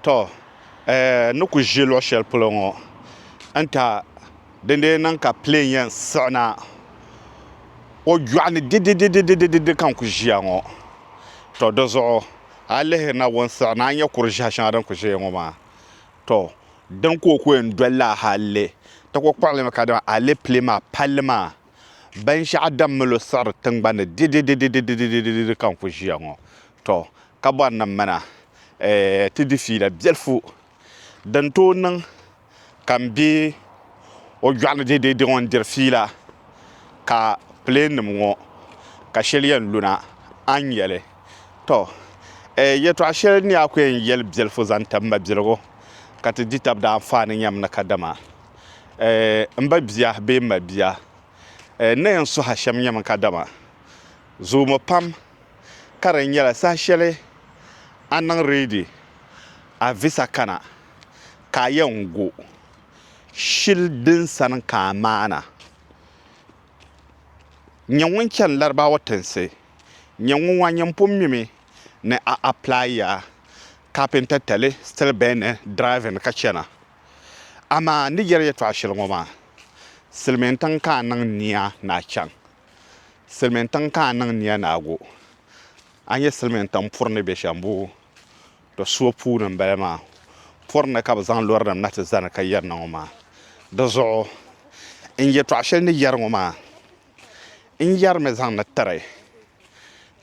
Tɔ! N ni ku ʒi luɣ shɛli polo ŋɔ n-ta, dindee niŋ ka piliŋ yɛn siɣina o yɔɣu ni didididididididi ka n ku ʒiya ŋɔ. Tɔ! Di zuɣu a yi lihirina o ni siɣina a ni nya kur ʒiɛhi shɛŋa din ku ʒiya ŋɔ maa. Tɔ! Din ka o ku yɛn doli la hali ti ku kpuɣi li mi ka dama alepile maa palli maa binshɛɣu din mali o siɣiri tiŋgbani ni dididididididididi ka n ku ʒiya ŋɔ. Tɔ! ka bɔri ni m mi na ti di fiila biɛlifu din tooi niŋ ka m be o yɔɣu ni deedee diŋɔ n-diri fiila ka pileennim ŋɔ ka shɛli yɛn lu na a ni nya li. Tɔ! Yɛtɔɣ shɛli ni a ku yɛn yɛli biɛlifu zaŋ ti m ma biligu ka ti di tab daanfaani nyam ni kadama m ba bia bee m ma bia ni yɛn sɔhi a shɛm nyami kadama zoomi pam ka di nyɛla saha shɛli a niŋ reedi a visa kana ka a yɛn gu shili din sani ka a maana. Nyɛ ŋun chani Larabawa tinsi. Nyɛ ŋun wan nyɛ m pun mimi ni a apilayiya kapinta tali, steel bending, driving ka chana. Amaa n ni yɛli yɛtɔɣa shɛli ŋɔ maa, silimiintiŋ ka a niŋ nia ni a chaŋ. Silimiin tiŋ ka a niŋ nia naagu a nyɛ silimiin tiŋ puri ni be shɛm boo to suo puuni m bala maa puri ni ka bɛ zaŋ lorinim na ti zani ka yɛri na ŋɔ maa di zuɣu n yɛtɔɣa shɛli ni yɛri ŋɔ maa n yɛrimi zaŋdi tiri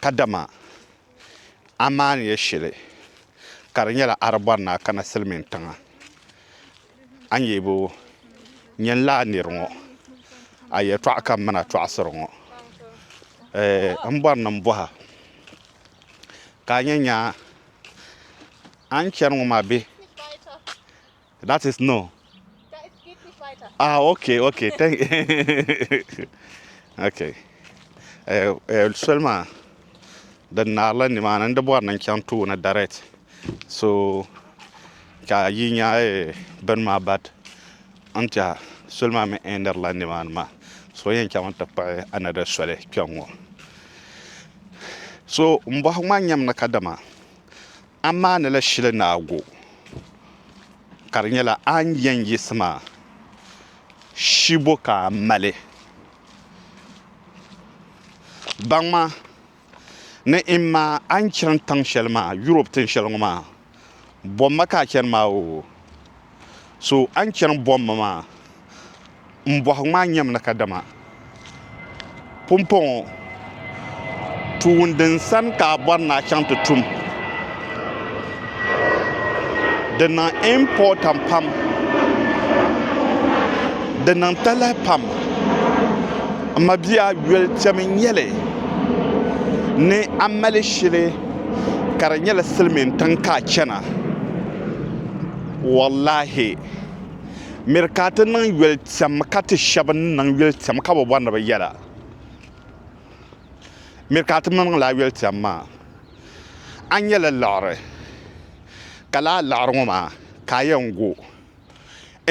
kadama a maaniya shili ka di nyɛla a di bɔri ni a kana silimiin tiŋa. a ni yɛn bo nyɛn laa nir ŋɔ a yɛtɔɣa ka m mi na tɔɣisiri ŋɔ, m bɔri ni m bɔh a ka a nya nya a ni chani ŋɔ maa bee? That is no. Ah ok ok thank you. Ok, soli maa. di naarila nimaani n di bɔri ni n chaŋ tooni direct so ka yi nya eh, bini maa but n tiɛha soli maa mi ɛɛnirila nimaani maa so yɛn chaŋ n ti kpuɣi anada soli kpɛŋŋɔ so m bɔhi ŋɔ a nyami ni kadama A maanila shili ni a go, ka di nyɛla a ni yɛn yiɣisi maa, shibo ka a mali. Baŋma ni N ma a ni chani tiŋ shɛli maa, Yurop tin shɛli ŋɔ maa, bom ma ka a chani maa oo, so a ni chani bom ma maa. n bɔhigu maa nyɛmi ni kadama pumpɔŋɔ tuun din sani ka a bɔri ni a chaŋ ti tum di niŋ impɔtan pam di niŋ talahi pam m mabia yuli kpɛmi n-nyɛli ni a mali shili ka di nyɛla silimintiŋ ka a chana wallaahi miri ka ti niŋ yoli tɛm ka ti shɛba ni niŋ yoli tɛm ka bi bɔri ni bi yɛra miri ka ti niŋ laa yoli tɛm maa a ni yɛli liɣiri ka laa liɣiri ŋɔ maa ka a yɛn gu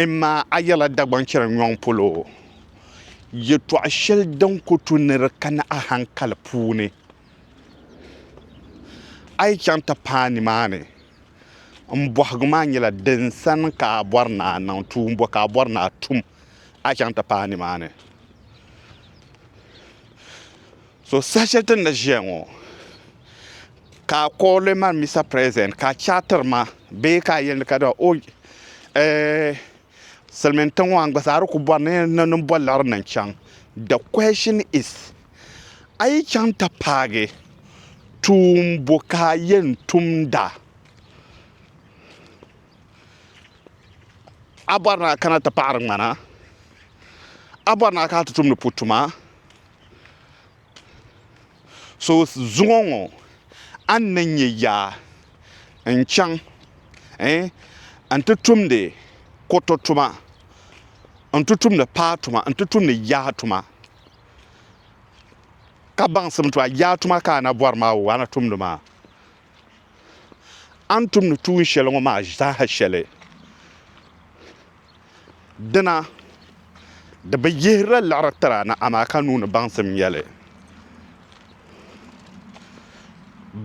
imma a yɛrila Dagbaŋ chɛri nyɔŋ polo yɛtɔɣ shɛli din ku tu ni di kani a haŋkali puuni a yi chaŋ ti paai nimaani m bohigu maa nyɛla din sani ka a bɔri ni a niŋ tuumbuɣu ka a bɔri ni a tum a chaŋ ti paai nimaani so saha shɛli ti ni ʒiya ŋɔ ka a kɔɔli ma mista pireezidɛnt ka a che a tiri ma bee ka a yɛli ni kadama o ɛɛh silimiin tiŋ maa n gba zaa di ku bɔri ni ni boliɣiri ni n chaŋ de kuɛshin is a yi chaŋ ti paagi tuun bo ka a yɛn tumda, a bɔri ni a kana ti paɣiri ŋmana, a bɔri ni a kana ti tumdi pu tuma, so zuŋɔ ŋɔ a ni nyɛ yaa n-chaŋ n-ti tumdi kuriti tuma n-ti tumdi paa tuma n-ti tumdi yaa tuma. ka baŋsim ti a yaa tuma ka a na bɔri maa o a ni tumdi maa. A ni tumdi tuun shɛli ŋɔ maa zaa shɛli. Dina di bi yihirila liɣiri tiri a ni amaa ka nuu ni baŋsim nya li.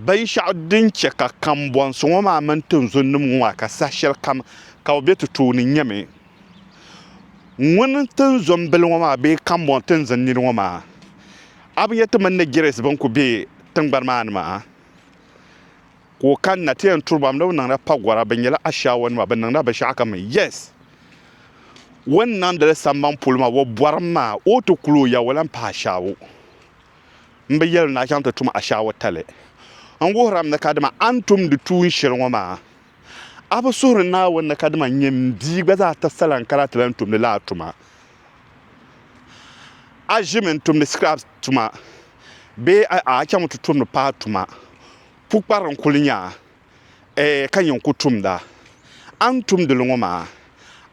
Binshɛɣu din chɛ ka kambɔnsi ŋɔ maa mini tinzunnim ŋɔ maa ka saha shɛlikam ka bɛ be ti tooni nyɛmi. Ŋun n tin zo n bili ŋɔ maa bee kambɔŋ n tin zi n nini ŋɔ maa? A bi yɛli ti mini ni Girɛs bɛn kuli be tiŋgbani maa ni maa ka o kanna ti yɛn turi ba ni bɛ niŋla pagɔra bɛ nyɛla Ashiyawanima bɛ niŋla binshɛɣu kam yes o ni niŋdili samban polo maa o bɔrimi maa o ti kuli o ya o lahi pahi Ashiyawo m bi yɛli ni a chaŋ ti tum Ashiyawo tali n wuhirimi ni kadama a ni tumdi tuun shɛli ŋɔ maa A bi suhuri Naawuni ni kadama n nyɛ m bia gba zaa ti sala n kana ti lahi tumdi lala tuma? A ʒimi n tumdi sikirab tuma bee a chaŋ ti tumdi paɣa tuma? Pukpara n kuli nya a, ee, ka nyɛ n ku tumda. A ni tumdili ŋɔ maa,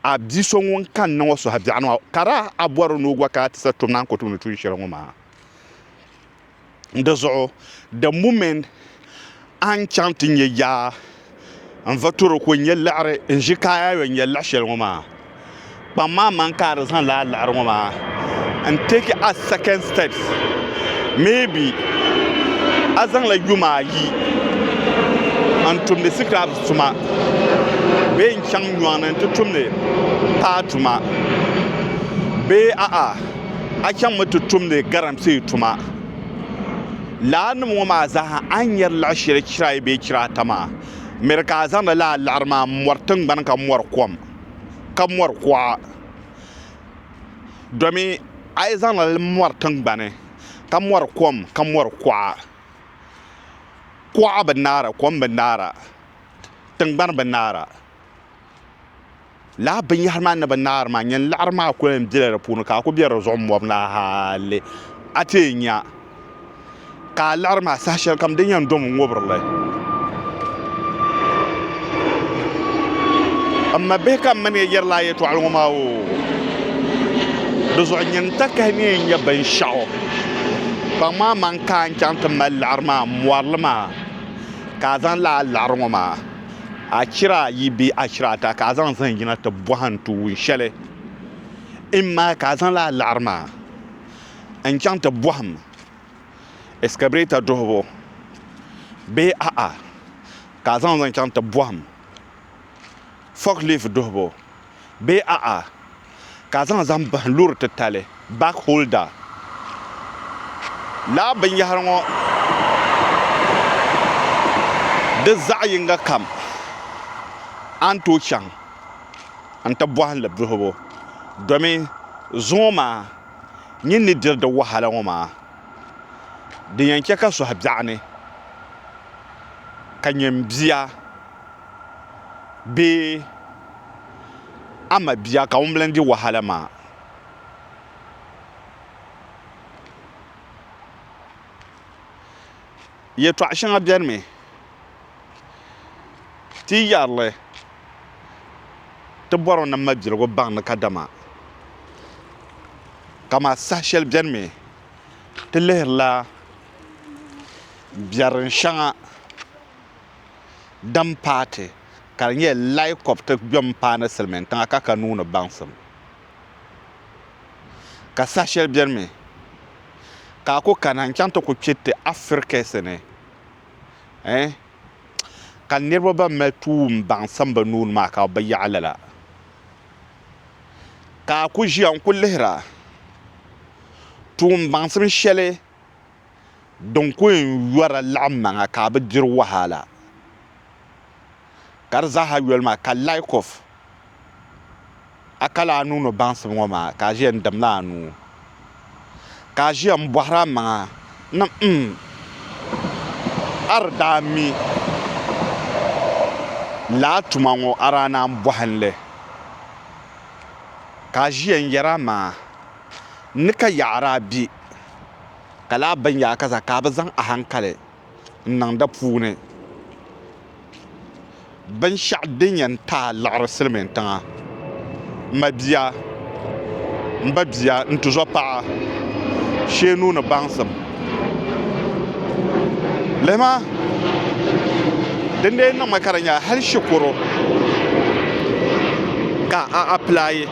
a bia so ŋun kanna ŋɔ suhu biɛɣuni maa, ka daa a bɔri ni o gba kana ti sa tum ni a ni ku tumdi tuun shɛli ŋɔ maa. Di zuɣu the moment a ni chaŋ ti nyɛ yaa n va tɔro ka o nyɛ liɣiri n ʒi ka a yaa yɛn nyɛ liɣi shɛli ŋɔ maa kpaŋ maa man ka a di zaŋ lala liɣiri ŋɔ maa n take a second steps maybe a zaŋla yuma ayi n tumdi scribes tuma bee n chaŋ nyɔŋni n ti tumdi paa tuma bee a'a. a chaŋmi ti tumdi galamsee tuma. Laa nim ŋɔ maa zaaha a ni nyari laɣ shɛli chira ayi bee chira ata maa, miri ka a zaŋdi laa laɣiri maa m-mɔri tiŋgbani ka mɔri kom, ka mɔri kuɣa. Domi a yi zaŋ li mɔri tiŋgbani ka mɔri kom ka mɔri kuɣa, kuɣa bi naara, kom bi naara, tiŋgbani bi naara. laa binyɛhiri maa ni bi naari maa nyini laɣiri maa kuli yɛn bela di puuni ka a kuli be di zuɣu m-mɔbu na hali a ti yɛn nya ka a liɣiri maa saha shɛli kam din yɛn dom n-ŋubiri li m ma bihi ka m mani ya yɛri laa yɛtɔɣili ŋɔ maa oo di zuɣu nyini takahi ni yɛn nya binshɛɣu kpaŋ maa man ka a chaŋ ti mali liɣiri maa m-mɔri li maa ka a zaŋ laa liɣiri ŋɔ maa Achira ayi bee achira ata ka a zaŋ zahim yina ti bɔhi n tuun shɛli. Imma ka a zaŋ lala laɣiri maa n-chaŋ ti bɔhim ɛskabirɛta duhibu bee a'a ka a zaŋ li chaŋ ti bɔhim fɔklifu duhibu. bee a'a, ka zaŋ zahim bahim loori titali, bag holder. Lala binyɛhiri ŋɔ di zaɣ yiŋga kam a ni tooi chaŋ nti bɔhim li duhibu domi zuŋɔ maa nyin ni diri di wahala ŋɔ maa din yɛn chɛ ka sɔhi biɛɣuni ka nyɛm bia. bee a ma bia ka ŋunbala n-di wahala maa. Yɛtɔɣ shɛŋa beni mi ti yi yɛri li ti bɔri mi ni mabiligu baŋ ni kadama kaman saha shɛli beni mi ti lihirila biɛrim shɛŋa. din paati ka di nyɛ Lai Kop ti kpɛm paani silimiin tiŋa ka ka nuu ni baŋsim. Ka saha shɛli beni mi ka a ku kana n-chaŋ ti ku kpɛ ti Afirikisi ni eh ka niriba ban mali tuun baŋsim bɛ nuu ni maa ka bɛ yaɣi lala. Ka a ku ʒiya n-ku lihira tuun baŋsim shɛli din ku yɛn yɔra laɣim maŋa ka a bi diri wahala ka di zaaha yoli maa ka like of a kali a nuu ni baŋsim ŋɔ maa ka a ʒiya n dimla a nuu ka a ʒiya n bɔhiri a maŋa ni mm a di daa mi lala tuma ŋɔ a daa naan bɔhi n li ka a ʒiya n yɛri a maŋa N ni ka yaɣiri a bia, ka lahi ben yaɣa ka zaa ka a bi zaŋ ahankali n-niŋ di puuni. Binshɛɣu din yɛn ti a liɣiri silimiintiŋa, m ma bia, m ba bia, n tuzɔpaɣa, sheenu ni baŋsim. lihima din dee niŋmi ka di nyɛla hali shikuru ka a apilaayi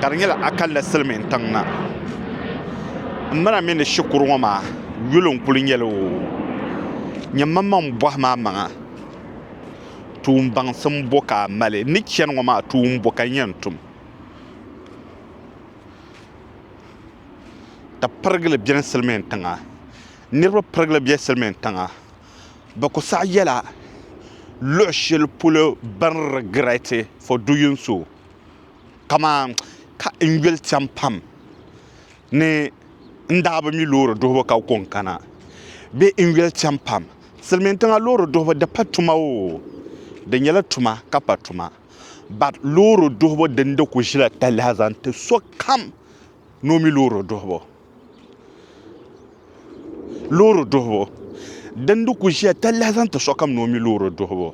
ka di nyɛla akalli silmiin tiŋ na n mana mi ni shikuru ŋɔ maa yuli n kuli nyɛli oo nyɛ manmaŋ bohi maa maŋa tuun baŋsim bo ka a mali n ni chɛni ŋɔ maa tuun bo ka n yɛn tum ka pirigili biɛni silmiin tiŋa niraba pirigili bɛ silmiin tiŋa bi ku saɣi yɛla luɣu shɛli polo bi ni rigirɛti fo duyin so kamani ka n yuli chɛŋ pam ni n daa bi mi loori duɣubu ka kɔŋ kana bee n yuli chɛŋ pam silmiin tiŋa loori duɣubu di pa tuma oo di nyɛla tuma ka pa tuma bat loori duɣubu dini di ku ʒila talahi zaŋ ti sokam ni o mi loori duhibu loori duhibu din di ku ʒiya talahi zaŋ ti sokam ni o mi loori duhibu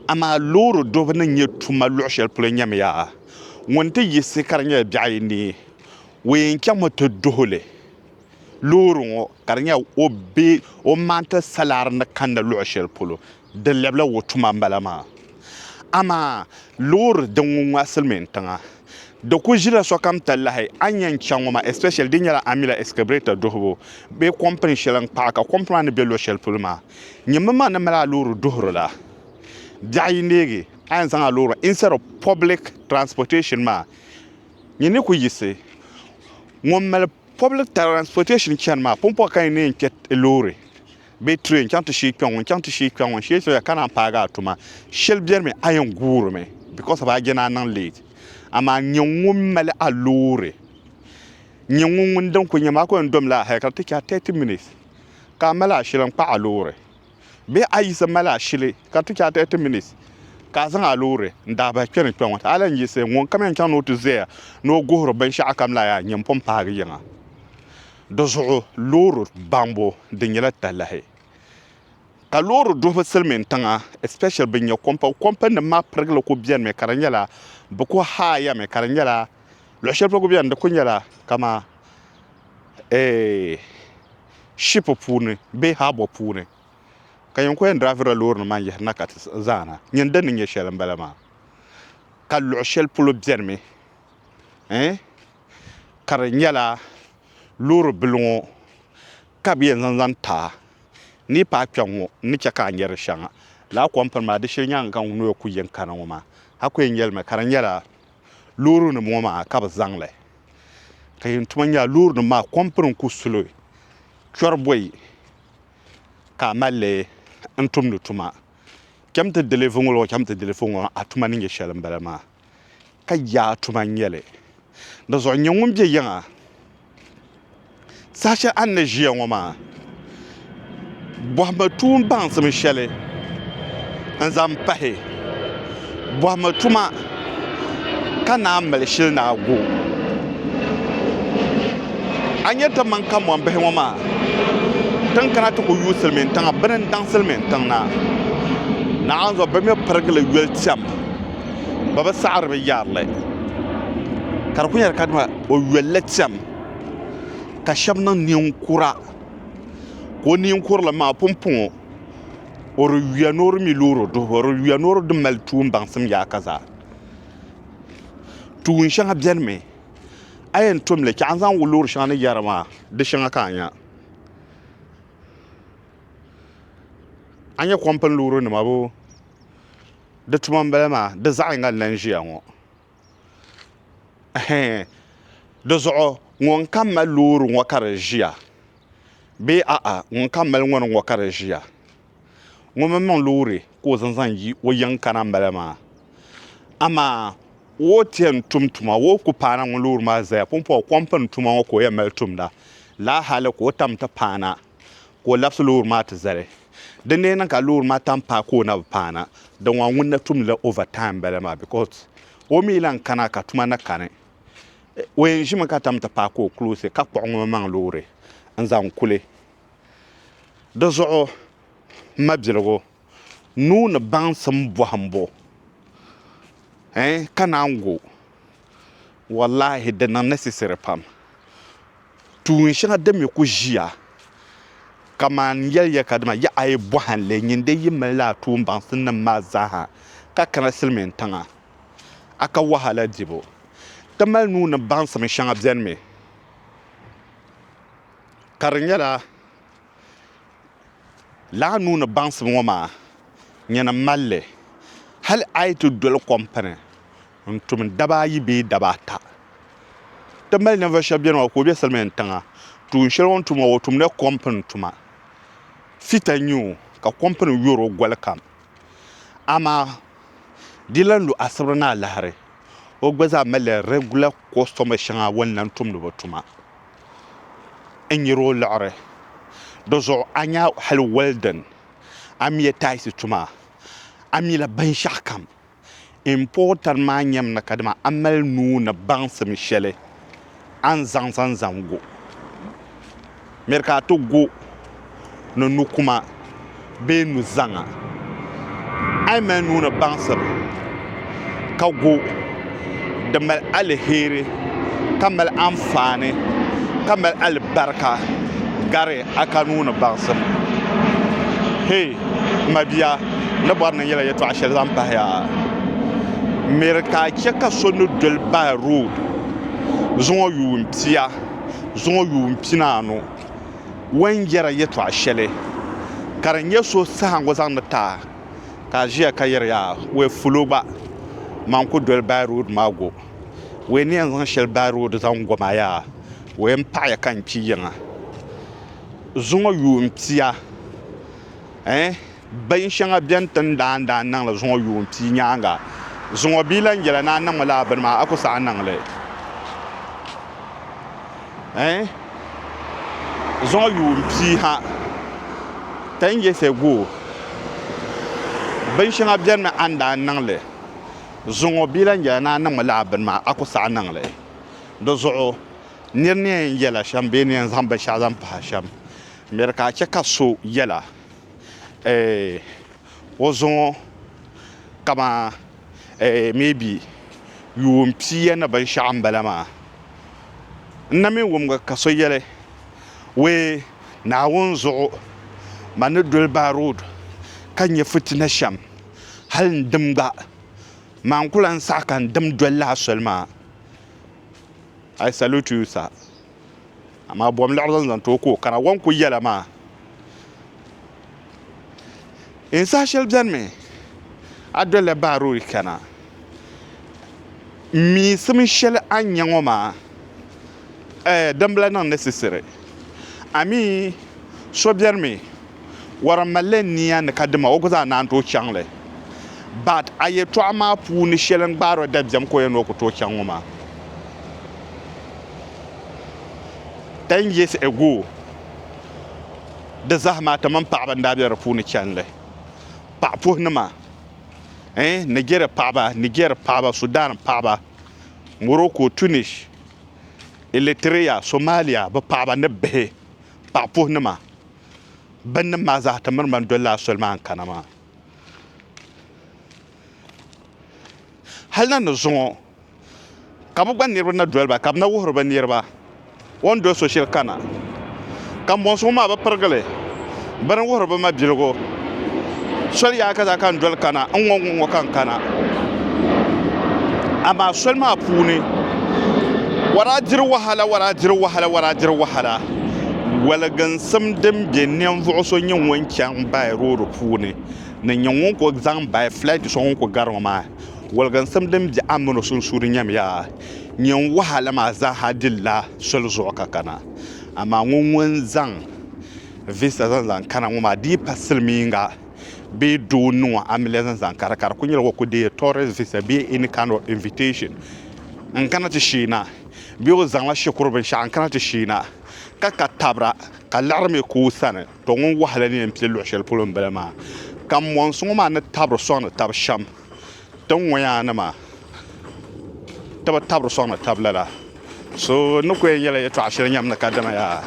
amaa loori duhibu ni nyɛ tuma luɣu shɛli polo nyɛmiya ŋun ti yiɣisi ka di nyɛla biɛɣ ayi ni o yɛn chɛŋmi ti duhili loori ŋo ka di nyɛla o maŋ ti salaari ni kanna luɣu shɛli polo Di lɛbila wuhi tuma m-bala maa. Amaa loori din ŋun ŋɔ a silimiin tiŋa, di ku ʒila sokam talahi. A ni yɛn chaŋ ŋɔ maa especially di nyɛla a mi la excavator duhibu bee company shɛli n-kpaɣi ka company maa ni be luɣ'shɛli polo maa nyɛ mini maa ni mali a loori duhiri la. Biɛɣu yi neegi a yɛn zaŋ a loori instead of public transportation maa nyɛ ni ku yiɣisi ŋun mali public transportation chani maa pumpɔŋɔ ka ni yɛn kpe loori. bee train chaŋ ti shee kpɛŋɔ n chaŋ ti shee kpɛŋɔ n shee soya ka naan paagi a tuma shɛli biɛrimi a yɛn guurimi because of a je ni a niŋ late amaa nyɛ ŋun mali a loori nyɛ ŋun ŋun din ku nyɛ maa ku yɛn domla a hali ka ti chɛ a 30 minutes ka a mali a shili n kpa a loori bee a yiɣisi mali a shili ka ti chɛ a 30 minutes ka a zaŋ a loori n daa bahi kpɛ ni kpɛ ŋɔ ti a lahi yiɣisi ŋun kam yɛn chaŋ ni o ti zaya ni o guhiri binshɛɣukam la yaa nyɛ m pun paagi yiŋa Di zuɣu loori baŋbu di nyɛla talahi ka loori duhibu silimin tiŋa especially bin nyɛ kompa kompa nim maa pirigili ku biɛni mi ka di nyɛla bi ku haaya mi ka di nyɛla luɣu shɛli polo ku biɛni di ku nyɛla kama eh, ship puuni bee haabɔ puuni ka yɛn ku yɛn diraavirila loori nim maa n yihirina ka ti zaana nyini din ni nyɛ shɛli n bala maa ka luɣu shɛli polo biɛni mi eh, ka di nyɛla loori bili ŋo ka bi yɛn zaŋ zaŋ taai ni yi paai kpɛŋ ŋo n ni chɛ ka a nyɛ di shɛŋa lala kom pini maa di shee nyɛla n zaŋ noya ku yi ni kana ŋo maa a ku yɛn nyɛ limi ka di nyɛla loori nim ŋo maa ka bi zaŋli ka yi ni tuma nyɛla loori nim maa kom pini n ku suli kpɛri bɔyi ka a malli n tumdi tuma chɛmiti diliifu ŋo chɛmiti diliifu ŋo a tuma ni nyɛ shɛli n bala maa ka yaa tuma n-nyɛ li. Di zuɣu nyɛ ŋun be yiŋa saha shɛli a ni na ʒiya ŋɔ maa. Bɔhimi tuun baŋsim shɛli n-zaŋ pahi. Bɔhimi tuma ka naan mali shili ni a gu. A ni nyɛ ti mini Kamonbihi ŋɔ maa ti ni kana ti ku yuui silimiintiŋa bini n-daŋ silimiintiŋ na. Naawuni zuɣu bɛ mi pirigili yoli tɛm. bɛ bi saɣiri bɛ yarili ka di kuli nyɛla kadama o yolli cham ka shɛba niŋ ninkura ka o ninkurulim maa pumpɔŋ o o di yuya ni o di mi loori duhibu o di yuya ni o di mali tuun baŋsim yaaka zaa tuun shɛŋa benimi a yɛn tom li chɛ a ni zaŋ loori shɛŋa ni yɛra maa di shɛŋa ka a nya a ni nya kompini loorinima boo di tuma n bala maa di zaɣ yinga n lahi ʒiya ŋo dizuɣu ŋun kam mali loori ŋo ka di ʒiya bee aɣa ŋun kam mali ŋarim ŋo ka di ʒiya ŋun mii niŋ loori ka o zaŋ zaŋ yi o yiŋ kana n bala maa amaa o ni tiɛhi tum tuma o ku paana ŋun loori maa ʒɛya pumpɔŋɔ kom pini tuma ŋo ka o yɛn mali tumda laa hali ka o tam ti paana ka o labisi loori maa ti zali. Di ni niŋ ka loori maa tam paai ka o na bi paana, di ŋɔ ŋun na tumdila over time m-bala maa because o mi lan kana ka tuma na kani. O yɛn ʒimi ka tam ti paai ka o close ka kpuɣi ŋumimaŋ loori n-zaŋ kuli. Di zuɣu m mabiligu nuu ni baŋsim bɔhimbu eh ka naan gu. wallahi di niŋ necessary pam tuun shɛŋa din mi ku ʒiya kaman yɛliya ka dima ya a yi bɔhimli nyin di yi mali a tuumbaŋsim nim maa zaaha ka kana silimin tiŋa a ka wahala dibu ti mali nuu ni baŋsim shɛŋa beni mi ka di nyɛla laa nuu ni baŋsim ŋɔ maa nyini malli hali a yi ti doli kɔmpini n tum daba ayi bee daba ata ti mali ninvuɣu shab biɛni maa ka o bɛ silmiin tiŋa tuun shɛli o ni tum maa o tumdila kompini tuma fita n nyɛ o ka kompini yori o goli kam amaa di yi lahi lu asibiri ni alahari o gba zaa malila rɛgula kɔstɔma shɛŋa o ni lahi tumdi bi tuma n nyɛri o liɣiri dizuɣu a nya hali wɛldin a miya taayisi tuma a mila binshaɣu kam Important maa nyɛm ni kadama a mali nuu ni baŋsim shɛli a ni zaŋ zaŋ zaŋ go. Miri ka a ti go ni nukuma bee nuzaŋa. A yi mali nuu ni baŋsim ka go. Di mali aliheri ka mali anfaani ka mali alibarika gari a ka nuu ni baŋsim. Hei m mabia, n ni bɔri ni n yɛla yɛtɔɣ shɛli zaŋ pahi ya. M miri ka a chɛ ka so ni doli bahi rood zuŋɔ yuun pia zuŋɔ yuun pinaanu wan yɛra yɛtɔɣ shɛli ka di nyɛ so sahaŋgu zaŋdi ti a. ka a ʒiya ka yɛri yaa wee fulo gba maa n ku doli bayi rood maa go wee ni yɛn zaŋ shɛli bayi rood zaŋ go maa yaa wee n paɣi ya ka n kpi yiŋa zuŋɔ yuun pia eh bin shɛŋa bɛn ti ni daa daa niŋli zuŋɔ yuun pia nyaanga zuŋɔ bia lahi yɛla ni a niŋmi laa bini maa a ku saɣi niŋli eh zɔŋɔ yuun pia ha tɛn yɛsɛ go bin shɛŋa bɛni mi a ni daa niŋ li zɔŋɔ bia lan yɛla ni a niŋmi lala bini maa a ku saɣi niŋ li di zuɣu nir ni yɛn yɛla shɛm bee ni yɛn zaŋ binshɛɣu zaŋ pahi shɛm miri ka a chɛ ka so yɛla eh o zɔŋɔ kaman eh maybe yuun piiya ni binshɛɣu n bala maa n na mi wumgi ka so yɛli wee Naawuni zuɣu ma ni doli baa road ka nyɛ fitina shɛm hali n dim gba maa n ku lan saɣi ka n dim doli lala soli maa I salute you sir. Amaa bom laɣiri zaŋ zaŋ ti o ka o kana wan ku yɛla maa. N saha shɛli benimi a dolila Baaruri kana. M miisim shɛli a ni nya ŋɔ maa, ɛɛ dimbila niŋ ni sisiri. Amii so benimi Wɔra malila nia ni ka dima o gba zaa naan tooi chaŋ li. But a yɛltɔɣa maa puuni shɛli n gbaari o dabiɛm ka o yɛn ni o ku tooi chaŋ ŋɔ maa. Ten years ago di zahima ti mini paɣaba n daa be di puuni chani li. Paɣa puhi nima eh Nigeria paɣaba, Niger paɣaba, Sudan paɣaba, Morocco, Tunis, Eritrea, Somalia bi paɣaba ni bihi paɣa puhi nima. binnim maa zaa ti miri ma n-doli lala soli maa n-kana maa. Hal na ni zuŋɔ ka bɛ gba niriba na doli ba, ka bɛ na wuhiri bɛ niriba o ni doli so shɛli kana, ka mɔŋsi ŋɔ maa bɛ pirigili bɛ ni wuhiri bɛ mabiligu. soli yaai kaza ka n doli kana n ŋɔ ŋɔ ŋɔ ka n kana amaa soli maa puuni waraa diri wahala waraa diri wahala waraa diri wahala waliginsim din bɛ ninvuɣu so nyɛ ŋun chɛŋ baai rood puuni ni nyɛ ŋun ku zaŋ baai fulɛt so ŋun ku gari ŋɔ maa waliginsim din bɛ a ni mini o sunsuuni nyɛmiya nyin wahala maa zaaha dilla soli zuɣu ka kana amaa ŋɔ ŋun zaŋ Vista zaŋ zaŋ kana ŋɔ maa di yi pa silimiinga bee doo ni ŋɔ a mi li zaŋ zaŋ kana ka di ku nyɛla o ku deei tourist visa bee any kind of invitation n kana ti sheena bee o zaŋla shikuru binshɛɣu n kana ti sheena ka ka tabira ka liɣiri mi ku o sani to ŋun wahala ni yɛn pili luɣu shɛli polo m bala maa ka mɔnsi ŋɔ maa ni tabiri sɔŋdi taba shɛm. Ti ni ŋɔ yaa ni maa ti bi tabiri sɔŋ ni tabi lala so ni ku yɛn yɛla yɛtɔɣ shɛli nyam ni ka dama yaa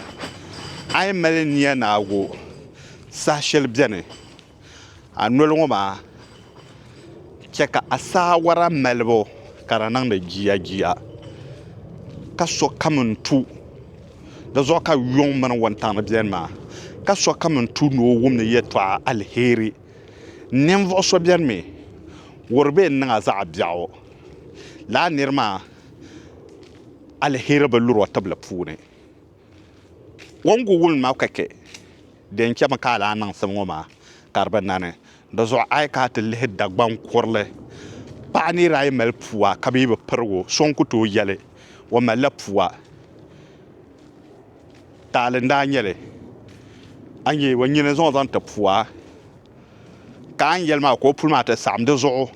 a yi mali nia naagu saha shɛli bɛni a noli ŋɔ maa chɛ ka a saawara malibu ka di niŋdi jiyajiya ka sokam ni tu di zuɣu ka yuŋ mini wuntaŋ ni bɛni maa ka sokam ni tu ni o wum ni yɛtɔɣ alheri Ninvuɣ so bɛn mi wuhiri bɛ ni niŋ a zaɣ biɛɣu la a nir maa alheri bi luri o tibili puuni. O ni ku wum ma ka chɛ din chɛmi ka a daa niŋ sim ŋɔ maa, ka di bi nani. Di zuɣu a yi ka a ti lihi Dagbaŋ kurili, paɣ nir ayi mali pua ka bɛ yi bi pirig o, so n-ku tooi yɛli o malila pua. Taali n daa nyɛli a ni yɛ o nyini zaŋ zaŋ ti pua ka a ni yɛli maa ka o puli maa ti saɣam di zuɣu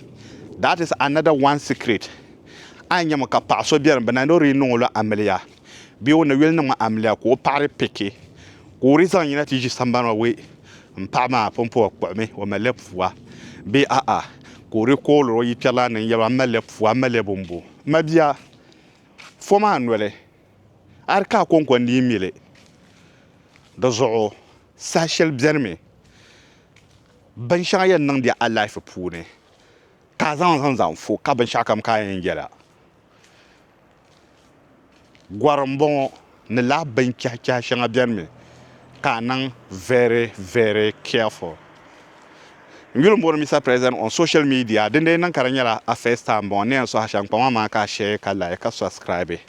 that is another one secret a ni nyɛmi ka paɣa so biɛni bi na ni o di niŋ o la amiliya bee o ni yuli niŋ amiliya ka o paɣa di piki ka o di zaŋ yina ti ʒi sambani maa wee n paɣa maa pun pa o kpuɣumi o malila pua bee a'a ka o di kooliri o yi kpɛrilana ni n yɛli o a malila pua a malila bumbu mabia fo maa noli a di ka a kɔŋko n-dii mi li. Di zuɣu saha shɛli beni mi binshɛŋa yɛn niŋ di a lahifu puuni ka a zaŋ zaŋ zaŋ fu ka binshɛɣukam ka a yɛn yɛla. Gɔri m-bɔŋɔ ni lahi binchɛhichɛhi shɛŋa beni mi ka a niŋ very very careful. N yuli m-booni Mister President on social media dindee niŋ ka di nyɛla a first time m-bɔŋɔ ni yɛn suhi a shɛm kpaŋ maa ka a share ka like ka subscribe.